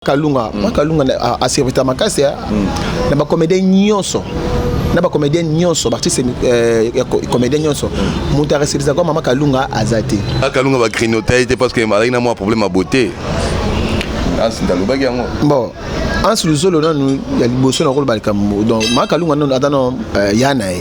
Kalunga, mm. moi Kalunga a servita makasi hein. mm. na ba comédien nyonso na ba comédien nyonso ba artiste euh, comédien nyonso moto aresepisa kwa mama Kalunga aza te ah, Kalunga ba grignote ye te parce que alaki na mwa problème ya beauté Hans ndalobaki yango bon Hans Luzolo nanu ya liboso na koloba likambo donc mama Kalunga nanu ata no euh, ya na ye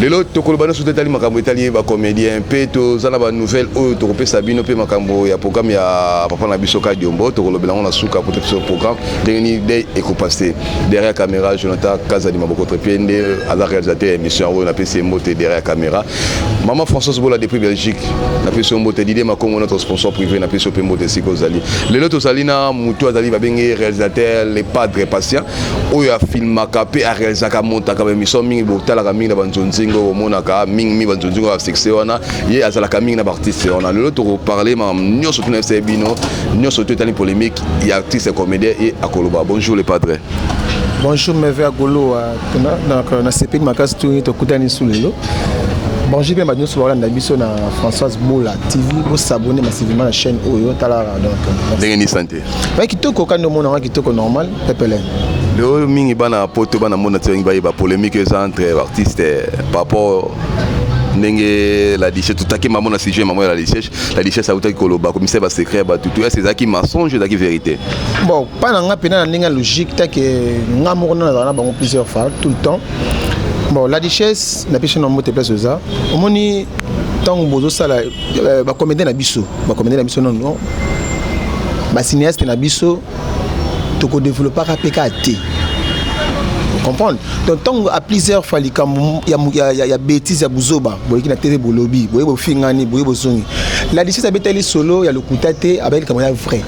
lelo tokoloba nyonso etali makambo etali bacomédien mpe toza na banouvelle oyo tokopesa bino mpe makambo ya programme ya papa na biso kadiombo tokolobela yango na suka mpo tokiso programme ndenge nini dei ekopaste derrière caméra jonathan kazadi mabokotre mpe nde aza réalisateur ya émission yango oyo napesi ye mbote derrière caméra mama françoise bola depuis belgique napesi yo mbote didie makongo notre sponsor privé napesi yo mpe mbote esika ozali lelo tozali na motu azali babenge réalisateur le padre patient oyo afilmaka mpe arealisaka amontaka baemission mingi botalaka mingi na banzonzingo bomonaka mingi mingi banzonzingo ya succès wana ye azalaka mingi na baartiste wana lelo tokoparle makambo nyonso tuna yebisa ye bino nyonso to etali polémique ya artiste comédien ye akoloba bonjour le padre bonjour meve agoloa nasepeli makasi tuni tokutani lisu lelo bonjour mpe bato nyonso bakolanda biso na françoise bola tv bosabone masivima na chaîne oyo talaka donc ndenge nisante Ba kitoko kandi omona nga kitoko normal pepele. Leo mingi bana poto bana mona tsengi baye ba polemique eza entre artiste eh, par rapport ndenge la richesse tutaki mamo na sujet mamo ya la richesse la richesse autaki koloba komisai ba secret ya bato to yasi ezalaki mensonge ezalaki vérité bon mpa na nga mpena na ndenge ya logique take nga moko na nazala na bango plusieurs fois tout le temps bon la richesse na pesi na mbote place oza omoni ntango bozosala euh, ba comédien na biso ba comédien na biso non non ba cinéaste na biso toko développaka pe ka te comprendre donc ntango à plusieurs fois likambo ya, ya, ya, ya bétise ya buzoba boyeki na tv bolobi boye bofingani boye bozongi la licence abetali solo ya lokuta te abaki likambo ya vrai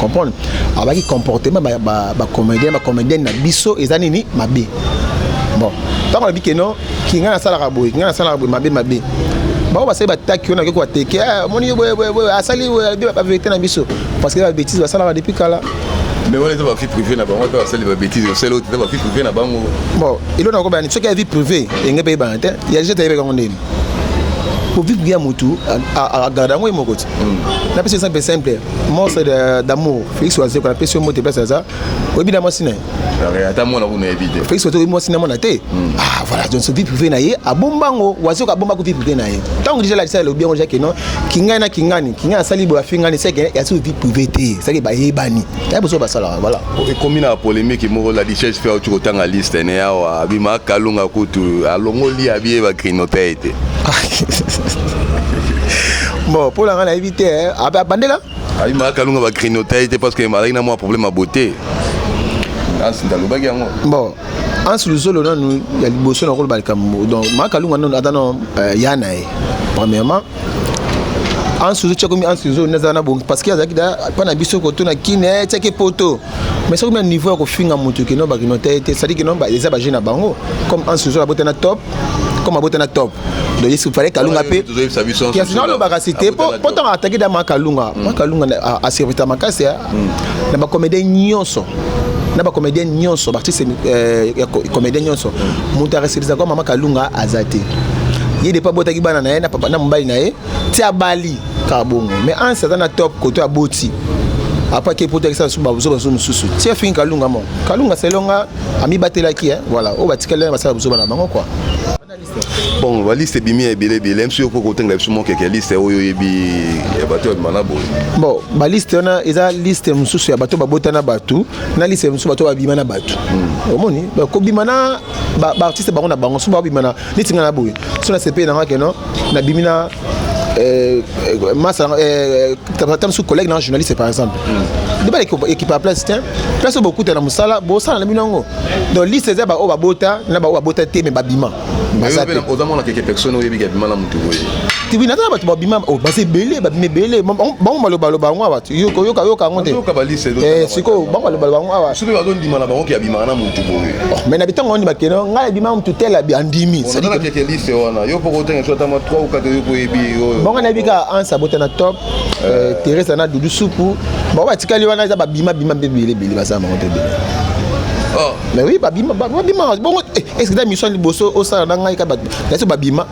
comprendre abaki comportement bacomédien ba, ba bacomédienne na biso eza nini mabe bon ntango alobi keno ki ngai nasalaka boye ki ngai nasalaka boye mabe mabe bango basali bataki yo nakoki kobateke eh, omoni yo boyeboyeboye asali baverité na biso parce que babétise basalaka depuis kala mais wana eza bavie privé na bango mpe basali babétise osali ote eza bavie privé na bango bon elo nakobani soki ya vie privé enge mpe eyebana te ya jete ayebeka yango ndeni kovive ya motu agarde yango ye moko ti napesi exemple simple monstre d'amour félix wazeko napesi yo mbote place aza oyebi na mwasi na ye ata mwana kuna yebi te félix oto oyebi mwasi na mwana te hmm. ah voilà donc vie privée na ye abomba yango wazi oka abomba ko vie privée na ye ntango deja lakisa elobi yango jake non kingani na kingani kingani asali boye afingani seke yasi vie privée te seke bayebani ya boso basalaka voilà ekomi na polémique moko la richesse mpe auti kotanga liste ne awa abima kalunga kutu alongoli abiye bagrinote te ah. bon mpo na ngai nayebi te eh. abandela ayimaka kalunga ba grignoter ye te parce que azalaki na mwa problème ya beauté ansi ndalobaki yango bon ansi luzolo nanu ya liboso na koloba likambo donc makalunga nanu ata na euh, ya na ye premièrement ansi luzolo tyakomi ansi luzolo nazala na bongi parce que azalaki da mpa na biso koto na kine tyaki poto mais soki na niveau ya kofinga moto kino bakino te te sadi kino eza baje na bango comme anse ozo abota na top comme abota na top donc il fallait kalunga mpe kasi nalobaka si te mpo ntango ataki da makalunga makalunga hmm. aservita makasi hmm. na bacomédien nyonso na bacomédien nyonso baartiste euh, ya comédien nyonso moto hmm. areservisa kwa mama kalunga aza te ye depa abotaki bana na ye na mobali na ye ti abali kaka bongo mais anse aza na top koto aboti apaki epotakisa lisusu babuzoba zo mosusu ti afingi kalunga moko kalunga selonga amibatelaki eh, voilà oyo batikali basala buzoba na bango kua bon baliste ebimi ya ebele ebele mso okoki kotengela biso mwa keke ya liste oyo oyebi ya bato ya bimana boye bon baliste wana eza liste mosusu ya bato babota na bato na liste mosusu bato babima na bato hmm. omoni kobima na baartiste bango na bango so babima na neti ngai na boye so nasepeli na ngai keno nabimi na Euh, euh, masa euh, ta mosusu collègue na journaliste par exemple nde bana ekipa place te place oyo bokuta na mosala bosala na bino yango donc liste eza baoyo babota na baoyo babota te me babima ozamonaka eke personne oyebiki abima na motu boye tibi naza na bato babima oh, baza ebele babima ebele bango balobaloba yango awa yokayoka yango te eh, sikoyo bango balobaloba yango awa soki bazondima na bango ke abimaka na motu boye mais na bitango wani bakende ngai abima mutu tela andimi bango nayebi kaka ansa bota na top euh, euh. teresa na dudu supu bango batikali wana eza babima bima mpe ebele ebele baza bango mpe ebele oh. mais oui babima babima bongo eh, est ce que ta mission liboso osala na ngai ka bato nasi babima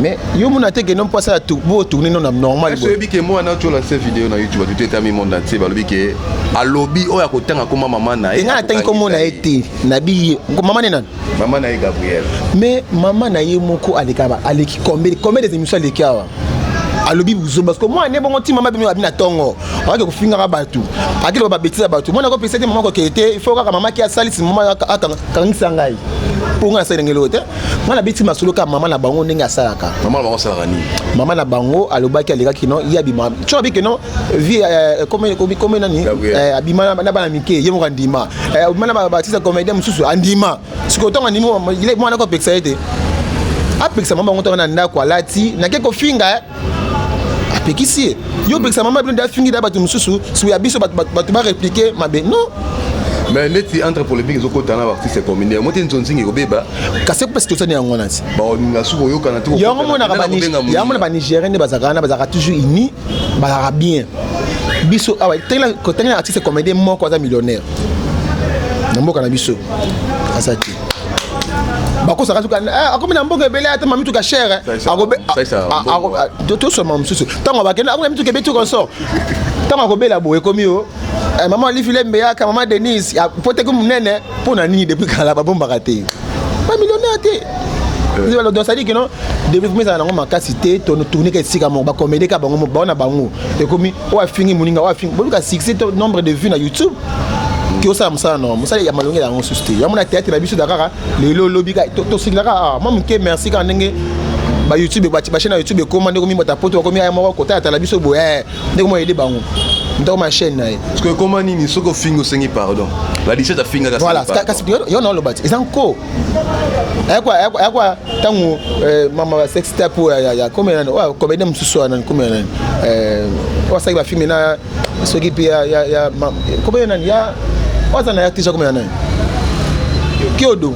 mais yo mona te kende mpasa ya bo tourne no na normal boye oyebi ke mwana otyola se video na youtube atuti etami monde entier balobi ke alobi oyo akotanga koma mama na ye engai natangi komona ye te nabiye mama ne nani mama na ye gabriel mais mama na ye moko alekaba aleki kombe kombe des émissions aleki awa alobi buzoba parce que mwana ne bongo ti mama bino abi na tongo akaki kofingaka bato akaki loba babetise ya bato mwana akopesa te mama kokeye te il faut kaka mama ki asalisi mama akangisa ngai mpo ngai nasali ndenge loo te nga nabeti masolo kaka mama na bango ndenge asalaka mama na bango asalaka nini mama na bango alobaki alekaki no ye abima so abi ke no vie eh, comme nani eh, abima na bana mike ye moko andima eh, abima na batisa comédien mosusu andima sikoyo ntango andimi mwana ko apekisa ye te apekisa mama bango ntango na ndako alati nake kofinga apekisi ye yo opekisa mama bino nde afingi da bato mosusu suya biso bato bareplike mabe non mais neti entre polémique ezokota na baartiste commune yango te nzonzingi ekobeba kasi mpasi tosani yango wana ti baolinga suki oyokana te yango monakayango na banigérien nde bazalaka wana bazalaka toujours uni bazalaka bien biso awa tengela artiste comédien moko aza millionnaire na mboka na biso aza te bakosaka suka eh, akomi na mboka ebele ata mamituka chere tosoma mosusu ntango bakende akomi na mituka ebeti consort ntango akobela boye ekomi yo eh, mama olifile mbeyaka mama denise po teki monene mpo na nini depuis kala babombaka te bamillionnaire te eh. donc sadiki no développement ezala nango makasi te tourneka esika moko bakomedeka bango bao na bango ekomi oyo afingi moninga oyo afingi boluka succès to nombre de vue na youtube ke osala mosala no mosala ya malongi yango susu te yango na théâtre na biso da kaka lelo lobi tosengela kaka ah, mwa moke merci kaka ndenge ba youtube bachaine ya youtube ekoma ndeko mimata poto bakomi aya moko kotalatala biso boye eh, ndeko mwa yede bango ndeko ma chaîne na ye parce que ekoma nini soki ofingi osengi pardon la 17 afingaka voilà kasi yo na oloba ti eza nko ayakwa ntango eh, mama ba sextape oyo ya komela nani oyo komedien mosusu oyo nani komela nani oyo asalaki bafilme na soki mpe ya ya ya kombo ya nani ya waza na ya tija kombo ya nani kiodo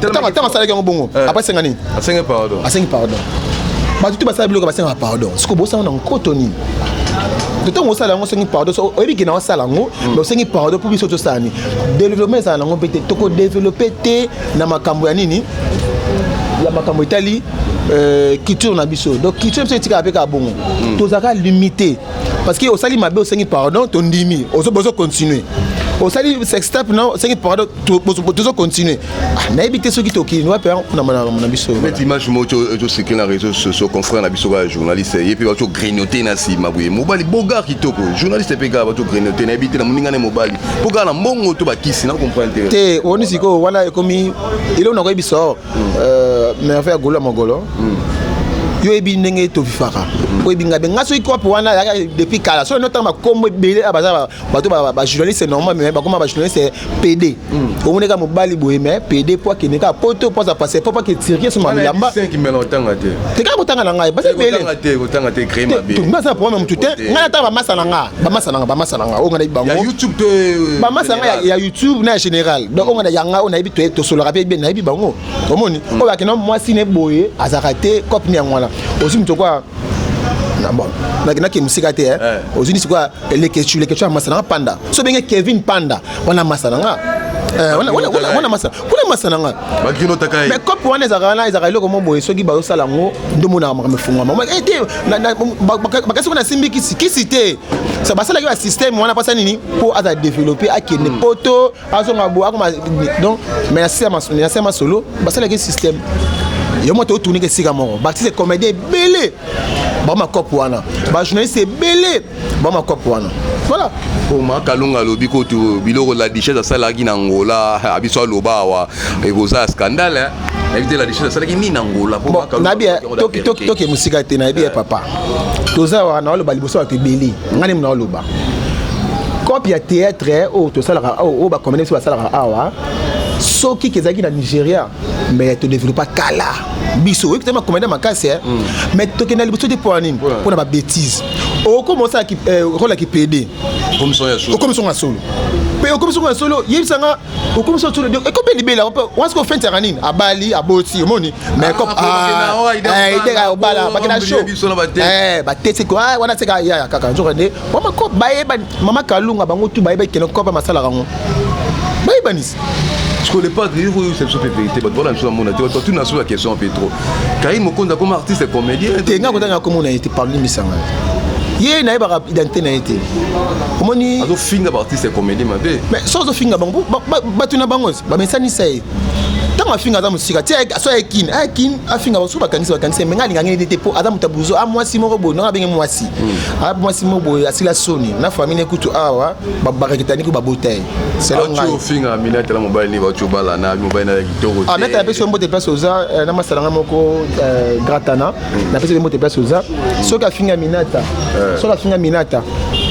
ntango asalaki yango bongo eh. apa asenga nini asengi pardon asengi pardon bato te basala biloko basengaka pardon siko bosala na nkoto nini ntango osala yango osengi pardon so oyebi kena osala yango mm. mais osengi pardon mpo biso tosala nini développement ezala nango mpe te tokodeveloppe te na makambo ya nini ya makambo etali euh, culture na biso donc culture biso etikaka mpe kaka bongo hmm. tozalaka limité parce que osali mabe osengi pardon tondimi bozo continuer osali sextape na osengi pardon tozo continuer ah, nayebi te soki tokini wapi na biso neti image moko tosekeli na réseau sociaux confrère na biso kaka journaliste ye mpe bato grignote na nsima boye mobali bogar kitoko journaliste mpe kaka bato grignote nayebi te na moninga ne mobali mpo kaka na mbongo to bakisi na comprendre te te oni sikoyo wana ekomi eloko na koyebisa o hmm. euh, merveille ya golo ya mogolo hmm. yo oyebi ndenge tofifaka hmm. oyebi ngai be ngai soki kope wana yaka depuis kala soki notanga makombo ebele ya baza bato bajournaliste normal me bakoma bajournaliste pede omoni kaka mobali boye me pede mpo akende kaka poto mpo aza pase mpo ake tirke so malamba te kaka kotanga na ngai baza ebele baza na problème ya motu te ngai natanga bamasa na ngai bamasa nanga bamasa nanga oyo nga nayebi bango euh, bamasa nanga ya youtube na ya général donc oyo nga yanga oyo nayebi tosolaka mpe bien nayebi bango omoni mm. oyo akenda mwasi ne boye azalaka te cope ni yango wana ozwi moto kwa nakendaki mosika te eh. eh. ozwi sikoya leketsu leketsu ya masana panda so benge kevin panda wana masa na nga eh, wana masa kuna masa na nga mais cope wana ezalaka wana ezalaka eloko mwa boye soki bazosala yango nde omonaka makambo efungwama eh, te bakasi kuna asimbi kisi kisi te sa basalaki ba système wana mpasa nini mpo aza développe akende hmm. poto azonga boye akoma donc mais na se masolo basalaki système yo moto otuniki esika moko batise comédien ebele baoma cope wana bajournaliste ebele bama cop wana voilà oma kalunga alobi kutu biloko la duchesse asalaki na ngola abiso aloba awa ekoza scandale nayebi te la duchesse asalaki nini na ngola nayebi toke mosika te nayebi ya papa toza awa na oloba liboso bato ebele ngai nemu na oloba cope ya théâtre oyo tosalaka oyo bakomene biso basalaka awa soki kezalaki na nigeria mais todevelopa kala biso oyebi te makomanda makasi eh? mm. mais tokenda liboso te mpo ya nini mpo na babétise okoma osala eh, role ya kipede okomi songo ya solo mpe okomi songo ya solo yebisa nga okomi songo solo ekomi libela wana soko fenti yaka nini abali aboti omoni mais comme ideka ya obala bakenda show batesi wana seka yaya kaka nzoka nde wamako bayebani mama kalunga bango tu bayebaki kende kopa masalaka yango bayebanisi Parce que le padre, il faut se souper vérité. Parce que voilà, je suis à mon avis. Parce que tu n'as pas la question, Petro. Quand il me compte comme artiste et comédien. Tu n'as pas comment on a été parlé, mais ça ye nayebaka identité na ye te omoni azofinga baartiste ya comédie mabe mais so azofinga bango bato na bango bamesanisa ye ntango afinga aza mosika ti so aye kin aye kin afinga basu bakangisi bakangisi me ngai alingangeli te te mpo aza moto ya buzo a ah, mwasi moko boye nanga abenge mwasi hmm. a ah, mwasi moko boye asila soni na famille kutu awa barakitani ko babota ye ofinga amina tala mobali nini bauti obala na mobali na ya kitoko te amina tala pesi yo mbote place oza eh, na masala nga moko eh, gratana hmm. napesi yo mbote place oza hmm. soki afinga minata eh. soki afinga minata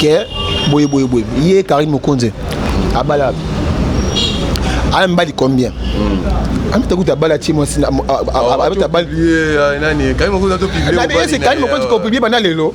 ke boye boye boye ye karine mokonzi hmm. abala aya mibali combien amita kutu abala ti mwasi abeta bali kani mokonzi kopiblie banda lelo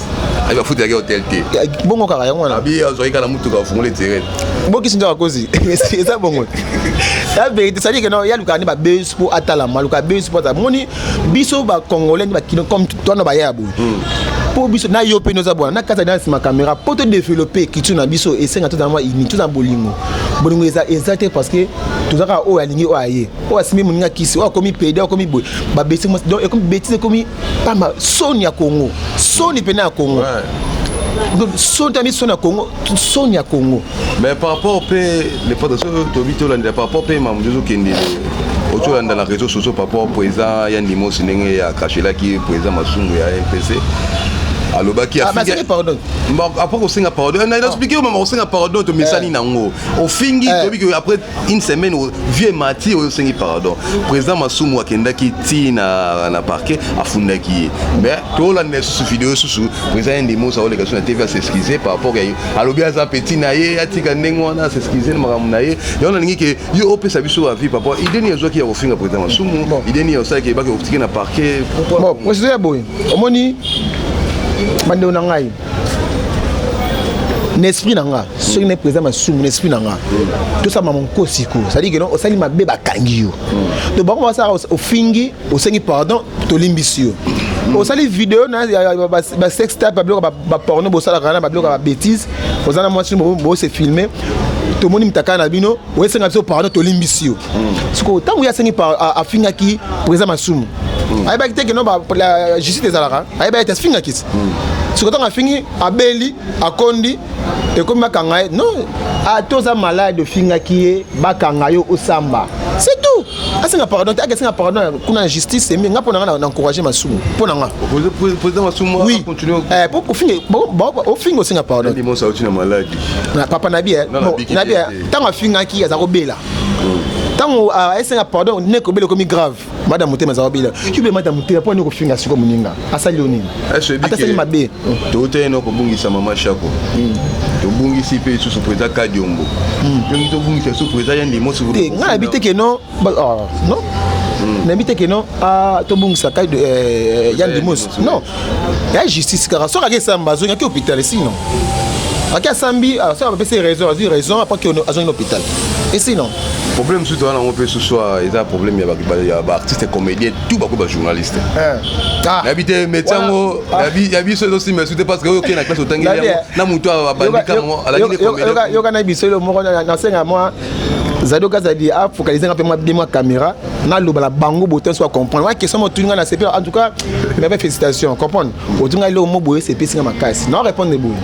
ayi bafuta yaki hotel te bongo kaka yango wana abi azwaki kaka na mutuka afungoli etirete bokisi nde bakozi eza bongo ya verité cestadire keno ya lukaka nde babes mpo atalama aluka bes mpo atala moni biso bacongolais nde bakino comme twana baya ya boye mpo hmm. biso na yo mpe noza bwana na kati na nsima caméra mpo to développer culture na biso esenga tozala mwa ini tozala bolingo bolingo eza eza te parce que toza kaka oyo alingi oyo aye oyo asimbi moninga kisi oyo akomi pede oyo akomi boye babesi donc ekomi betise ekomi pamba soni ya congo soni mpena ya congo ouais. soni tami soni ya congo soni ya congo mais par rapport mpe le pata soki tobi tolandela par rapport mpe mamu tozokende oki olanda na réseau sociaux par rapport président ya ndimosi ndenge ya kashelaki président masungu ya mpc alobaki ah, apres kosenga pardon eh, na explike yo mama kosenga pardon tomesani eh. nango ofingi eh. toyebi après une semaine vieux mati oyo osengi pardon président masumu akendaki ti na, na parquet afundaki ye mais tolanda lisusu video lisusu président ye ndimi osa oleka so na tv asexcuse par rapport ya ye alobi aza petit na ye atika ndenge wana asexcuse na makambo na ye yango nalingi ke yo opesa biso avis par rapport ideni azwaki ya kofinga président masumu ideni ya osalaki ebaki okotiki na parquet bon président ya boye omoni bandeko na ngai na esprit na nga soki na président masumu na esprit na nga tosala mama nkosi ko c'est-à-dire que non osali mabe bakangi yo donc bango basala ofingi osengi pardon tolimbisi yo osali video na basex tape babiloko baporno bosalaka na babiloko ya babétise oza na mwasi bose filme tomoni mitaka na bino oyesenga biso pardon tolimbisi yo sikoyo ntango ye asengi afingaki président masumu ayebaki te keno justice ezalaka ayebi ayete afinga kisi siko ntango afingi abeli akondi ekomi bakanga ye non ata oza malade ofingaki ye bakanga yo osamba c'est tout asenga pardon te akesenga pardon kuna na justice emi nga mpo na nga na encourage masumu mpo na nga président masumu oui eh, po kofinga ofinga osenga pardon na papa nabi eh, nabi eh, ntango afingaki aza kobela ntango asenga ah, pardon nekobela ekomi grave mada motema eza wabila yube mada motema mpo nini kofinga siko moninga asali yo nini ata asali mabe toutani na kobungisa mama shako hmm. tobungisi mpe lisusu président kadiombo ndenge hmm. tobungisa lisusu président ya ndimosi te ngai nayebi te ke non ah, non hmm. nayebi te ke non ah, tobungisa eh, eh, ya ndimosi non ya justice kaka soki ake esamba azongi ake hôpital esino ake asambi ah, soki abapesi raison azwi raison apres ke azongi na hôpital esino problème mosusu toza nango mpe susu eza problème ya baartiste comédien tout bakomi bajournaliste eh. ah. nayebi te métier yango ah. ya biso ezosimba esu te parce que oyo okei na classe otangi yango eh. na motu abandika yoka na biso elo moko nasenga mwa zadi oka zadi afocalise nga mpe mwa bie mwa caméra naloba na bango botin so acomprendre wana question motuni nga na sepe en tout cas mebe félicitation comprendre otinga ngai eloko mo boye sepesi nga makasi na répondre boye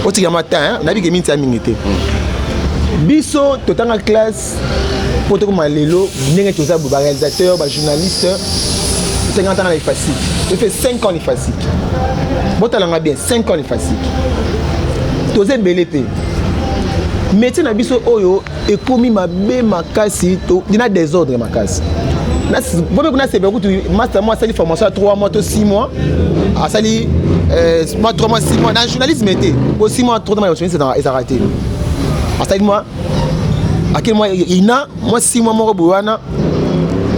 otika ma temps nayebi ke minti ya mingi te biso totanga classe mpo tokoma lelo ndenge toza boye baréalisateur bajournaliste totanga ntanga na efasique efe 5 ans efasique botalanga bien 5 ans efasique toza ebele mpe métier na biso oyo ekomi mabe makasi na desordre makasi bobe kuna sepela kutu master mo asali formation ya 3 mois to 6 mois asali euh, mwa 3 mois 6 mois na journalisme te po 6 mois trop mois ezalaka te asali mwa akeli mwa ina mwa 6 mois moko boye wana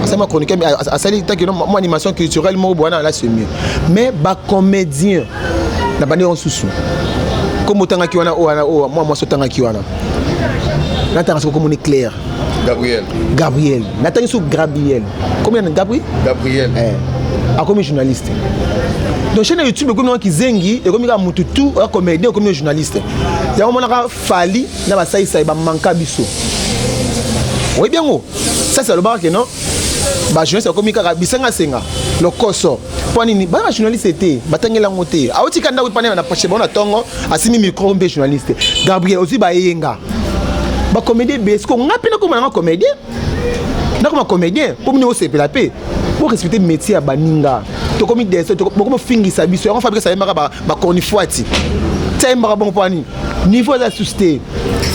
asali mwa chroniqueur asali tanke mwa animation culturelle moko boye wana alasi mieux mais bacomédien na bande yango susu nkombo otangaki wana oyo wana oyo mwa mwasi otangaki wana natanga soki okomoni claire gabriel gabriel natangi soki gabriel komi na gabri gabriel eh. akomi journaliste donc chaîne ya youtube ekomi nanga kizengi ekomi kaka motu tu oya comédien ekomi na journaliste yango monaka fali na basaisai bamanka biso oyebi yango sasi alobaka ke non bajournaliste ekomi kaka bisanga senga lokoso mpo nini bana bajournaliste te batangeli yango te aotika ndako epana na poche bango na ntongo asimi micro mpe journaliste gabriel ozwi bayeyenga bacomédie ebele siko ngai mpe nakoma nanga comédien nakoma comédien mpo mini osepela mpe borespecte métier ya baninga tokomi dese bokomofingisa biso yango fabrika ayembaka bacornifuati ti ayembaka bongo mpo ani niveau eza susu te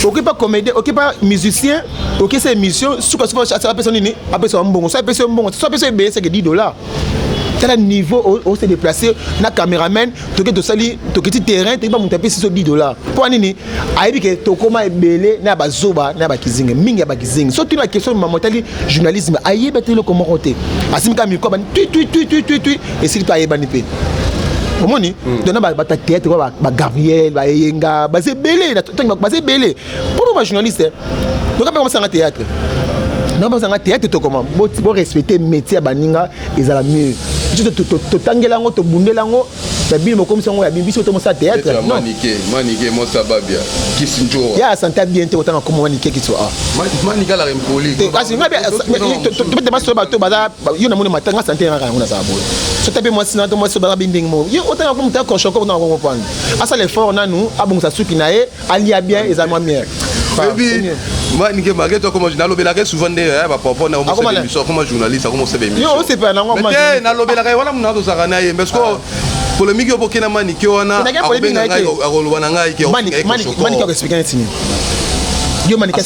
okoki mpa comédien okoki mpa musicien okesa émission sukasuka apesa nini apesa mbongo so apesi yo mbongo so apesi yo ebele seke 10 dollars tala niveau o se déplacer na cameraman toke tosali tokiti terrain toyeba moto apesi so 10 dollars mpo nini ayebi ke tokóma ebele na bazoba na bakizingi mingi ya bakizingi so tuna question mama etali journalisme ayebi ata eloko moko te asimi kaka mikro abani tui tui tui tui tui tui esili mpe ayebani mpe omoni hmm. dona bato ya théâtre ba gabriel baeyenga baza ebele baza ebele Mpo ba journaliste, toka mpe komasanga théâtre. Na basanga théâtre tokoma bo bo respecter métier ya baninga ezala mieux. Totangela yango tobundela yango ya bino bokomisa yango ya bino biso tomosala théâtre. Non. Manike, manike mosa babia. Kisinjo. Ya santa bien te otanga komo manike kiso a. Manika la impoli. Kasi ngabe tobete baso bato baza yo na moni matanga sante na kango na za boye. Sota pe mwasi na to mwasi baza binding mo. Yo otanga komo ta koshoko na kongo pwani. Asa l'effort nanu abongisa suki na ye alia bien eza mwa miel baby moi nike mage to koma nalobelaka souvent nde ya ba papa na omo émission koma journaliste akoma osebe émission yo osepela nango ma te nalobelaka wana muna to zaka na ye parce que ah. polémique yo bokena manike wana akobenga ngai akoloba na ngai ke manike manike ko expliquer nini yo manike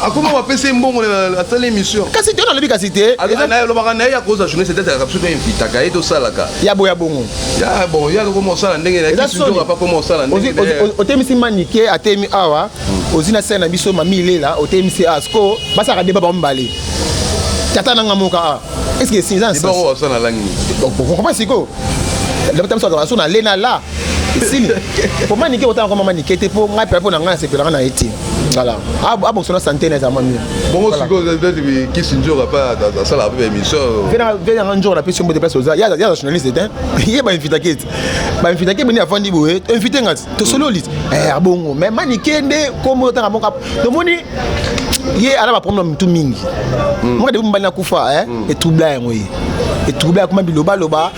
akoma bapesa ye mbongo asala émission kasi te nalobi kasi te nalobaka na ye akozwa journée c'est être biso toinvitaka ye tosalaka ya boya bongo ya bon ye akokoma osala ndenge nayeakoma osala otemisi manike atemi awa hmm. ozwi na sene na biso mami ilela otemisi awa siko basalaka deba bango mibale tata nanga moka a estce que sinza na sikoyo lobata biso azalaka so na lena la esili po manike kotanga kwa mama nike te po ngai mpe mpo na ngai nasepelaka na ye te voilà abongisa na sante na eza mwa mio bongo sikoyo kisi nzoka mpe asalaka mpe baémission ve yanga nzoka napesi mbote place oza ya journaliste te ye bainvitake te bainvitake beni afandi boye invite nga tosololi eh, abongo mais manike nde kombo otanga moko tomoni ye ala baproblème na mitu mingi hmm. moka debu mobali nakufa etubla eh, hmm. yango ye etubla akoma bilobaloba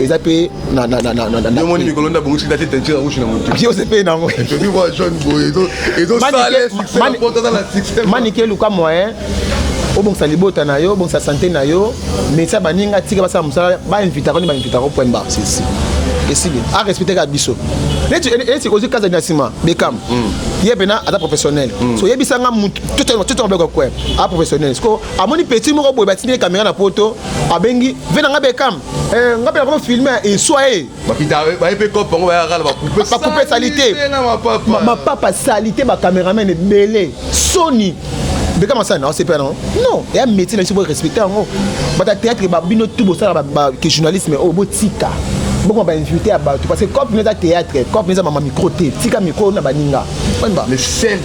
eza mpe omoni mikolo nde abongisi date teinture rouge na motu ose mpe nango manike eluka moyen obongisa libota na yo obongisa sante na yo mesa baninga tika basala mosala bainvitaka nde bainvitaka point bar sisi esili arespecteka biso neti eh, ozwi kazani na nsima bekam mm. ye mpena aza professionnel mm. so yebisa nga motu tototoka kwe a professionnel siko amoni petit moko boye batindi ye kamera na poto abengi ve na nga bekam Eh, ngape na filme eswa e baye mpe cope yango bayaka na bakupe salite mapapa salite bacameraman ebele soni beka masala na osepa yango non eya métier na biso borespecte yango bata théâtre bino tu bosala ke journalisme oyo oh, botika bokoma bainvité ya bato parce que cope eza théâtre cope eza mama micro te tika micro na baninga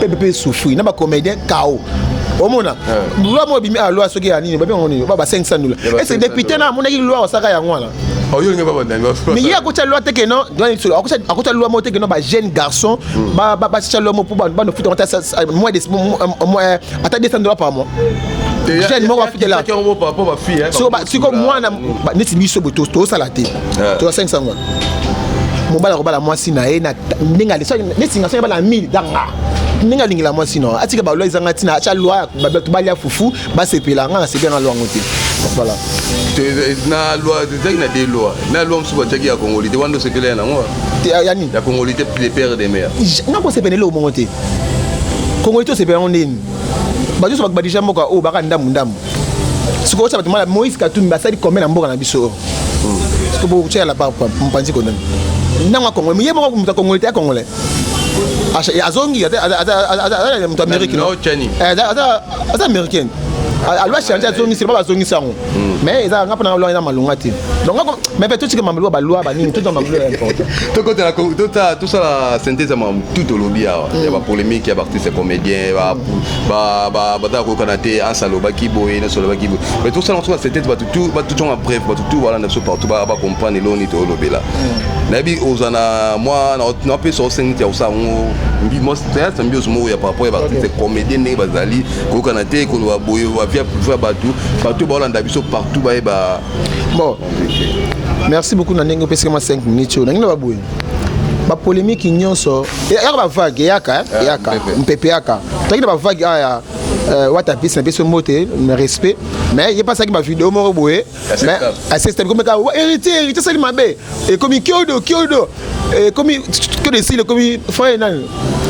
pepe pe souffrir na ba comédien kao omona loi moko ebimi a loi soki ya nini babenga ngo nini ba 500 dola ese député na amonaki loi osaka yango wana mais ye akotya loi te keno akotya loi moko te keno ba jeune garçon basitya loi moko mpo banofuta ata 200 dola par mois jeune moko afutela siko mwana neti biso tosala te eh. toza 500 ngwa mobali akobala mwasi na ye na ndenge alesa nesinga soki abala 1000 danga ndenge alingela mwasi no atika balwa ezanga ntina atya lwa bato balya fufu basepela nga nasepela na lwa yango te voilà na loi ezalaki na de loi na loi mosusu batiaki ya kongoli te wana osepela ya nango yani ya kongoli te de père de mère nakosepela eloko mongo te kongoli te osepela yango ndeni bato nyonso bakobadija mboka oyo baka ndambu ndambu sikoyo otya bato mala moïse katumbi basali kombe na mboka na biso sikoyo bokotia la barbe mopanzi kondani ntango akongole ye moko moto akongole te akongole azongi aza moto amérique aza américaine alwa change azongisi ba bazongisi yango mais eza nga mpona lwa eza malonga te donc mais mpe totika mamlwa balwa banini toza mamlwa ya important tokotela tota, tosala synthèse ya makambo tout olobi awa ya hmm. bapolémique ya baartiste comédien baza koyokana te ansa alobaki boye nyonso alobaki boye mais tosala mosuka synthèse bato tout ba tout en bref ba tout voilà na partout ba ba comprendre l'oni to lobela mm. na bi ozana moi na pe so sengi ya usa ngo mbi mo stress mbi osmo ya par rapport ba c'est comédien ne bazali ko kana te ko ba boyo ba via via ba tout ba tout ba landa biso partout ba ba bon merci beaucoup na ndenge opesika ma 5 minutes na ngi na ba boyo bapolemiki nyonso eyaka bavage eyaka eyaka mpepe eyaka toyaki na bavage aya wata pesi na biso mbote na respect mais ye pasaki bavideo moko boye mais asestami komi kaka héritier héritier asali mabe ekomi kiodo kiodo ekomi kiodo esili ekomi frère nani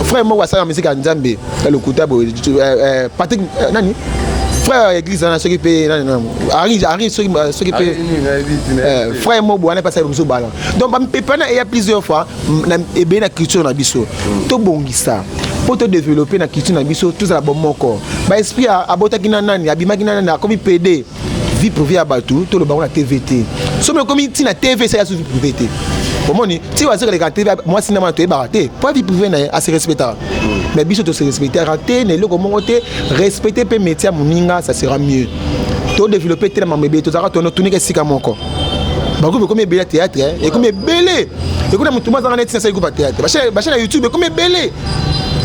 frère moko asalaka misiki ya nzambe ya lokuta boye patrik nani frère ya église wana soki mpe nani nani ari ari soki soki mpe frère moko boye wana mpe asali mosusu bala donc bamipepana eya plusieurs fois ebele na culture na biso tobongisa mpo todeveloppe na culture na biso tozala bomoko baesprit abotaki na nani abimaki na nani akomi pede vie privée ya bato tolobango na tv te soki ekomi ntina tv esali aso vie privée te omoni ti azokeleka te mwasi na mwana toyebaka te mpo vie privée na ye ase respectaka mais biso tose respectaka te na eloko moko te respecte mpe métier ya moninga ça sera mieux todeveloppe te na mambo ebele tozalaka tono tunika esika moko bagroupe ekomi ebele ya théâtre eh. ekomi ebele ekomi na motu mazanga neti nasali groupe ya théâtre bachaine ya youtube ekomi ebele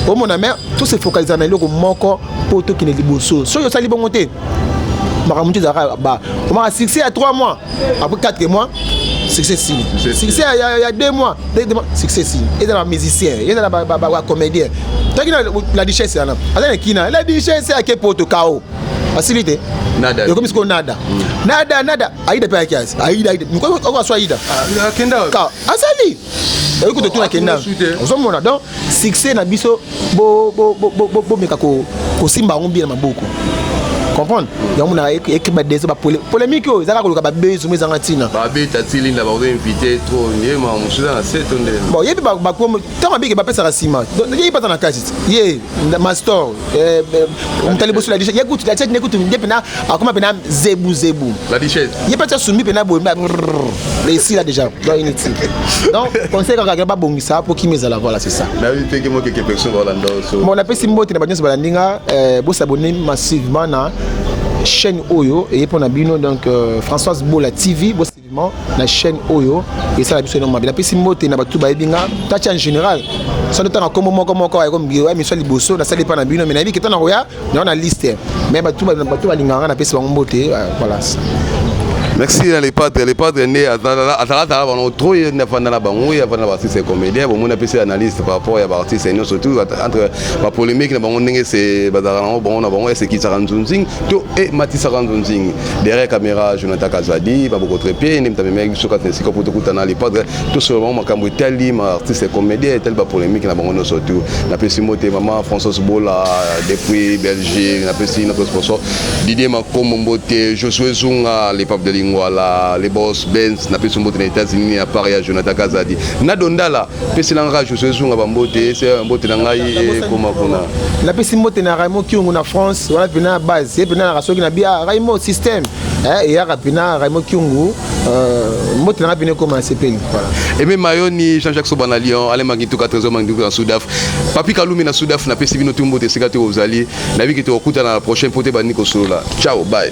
omona me to se focalisa na eloko moko mpo tokende liboso soki osali bongo te makambo motu ezalaka ba omaka succès ya 3 mois après 4 mois succès sili succès ya 2 mois succès sili eza na musicien eza na bacomédien toki na la duchesse wana aza na kina la duchesse ake poto kao asili te nada yokomi sikoyo nada hmm. nada nada aida mpe ayaki asi aida aida oko aso aida ah, akenda ka asali oyoki totuna kenda ozomona donc succès na biso bomeka kosimba yango bien na maboko comprendre yango na ekeba deso ba polémique oyo ezaka koluka ba bezo mo ezanga tina ba beta tilinda ba invité trop yema musuza na seto nde bon yebi ba ba ntango abiki bapesaka nsima ye baza na kati ye mastor eh, eh, moto aliboso ladishe ye kutu lacete ne kutu nde mpena akoma mpena zebu zebu ye mpe atya sumbi mpena boye esila déjà donc inutile donc conseil kaka kaka babongisa mpo kimi ezala voilà c'est ça bon napesi mbote na banyonso balandi nga eh, bosabone massivement na chaîne oyo eye mpo na bino donc euh, françoise bola tv na chaîne oyo esala biso eno mabe napesi mbote na bato bayebi nga tati en général soki ntanga nkombo moko moko ya miso ya liboso nasali epai na bino me nayebi keta na koya nao na liste me bato balingaka nga napesi bango mbote euh, voilà merci na lepatre lepatre nde azalazala bango trop ye nde afanda na bango ye afanda na baartiste comédien bomoni apesi analyste par rapport ya baartiste yango surtout entre bapolémique na bango ndenge se bazalaka nango bango na bango esekisaka nzunzing to ematisaka nzunzing derrière caméra jonathan kazadi babokotre mpe nde moto amemaki biso kati na esika mpo tokutana lepatre tosolo bango makambo etali ma artiste comédien etali bapolémique na bango nyonso tu napesi mbote mama françois bola depuis belgique napesi notre sponsor didier makombo mbote josue zunga le pape de lingwala le bos bens napesi mbote na états-unis ya part ya jonathan kazadi na dondala pesi na ngai josué zunga bambote ese ya mbote na ngai ekoma eh, kuna napesi mbote na raimo kiongo na france wana mpena na base ye mpena naka soki na bia ah, raimo système eh, eyaka mpena raimo kiongo euh, mbote na ngai mpena ekoma asepeli eme mayoni jean jacques soba na lyon ale mangituka trésor mangituka na sudaf papi kalumi na sudaf napesi bino tu mbote esika te ozali nayebiki tokokutana na prochain mpo te bandi kosolola ciao bye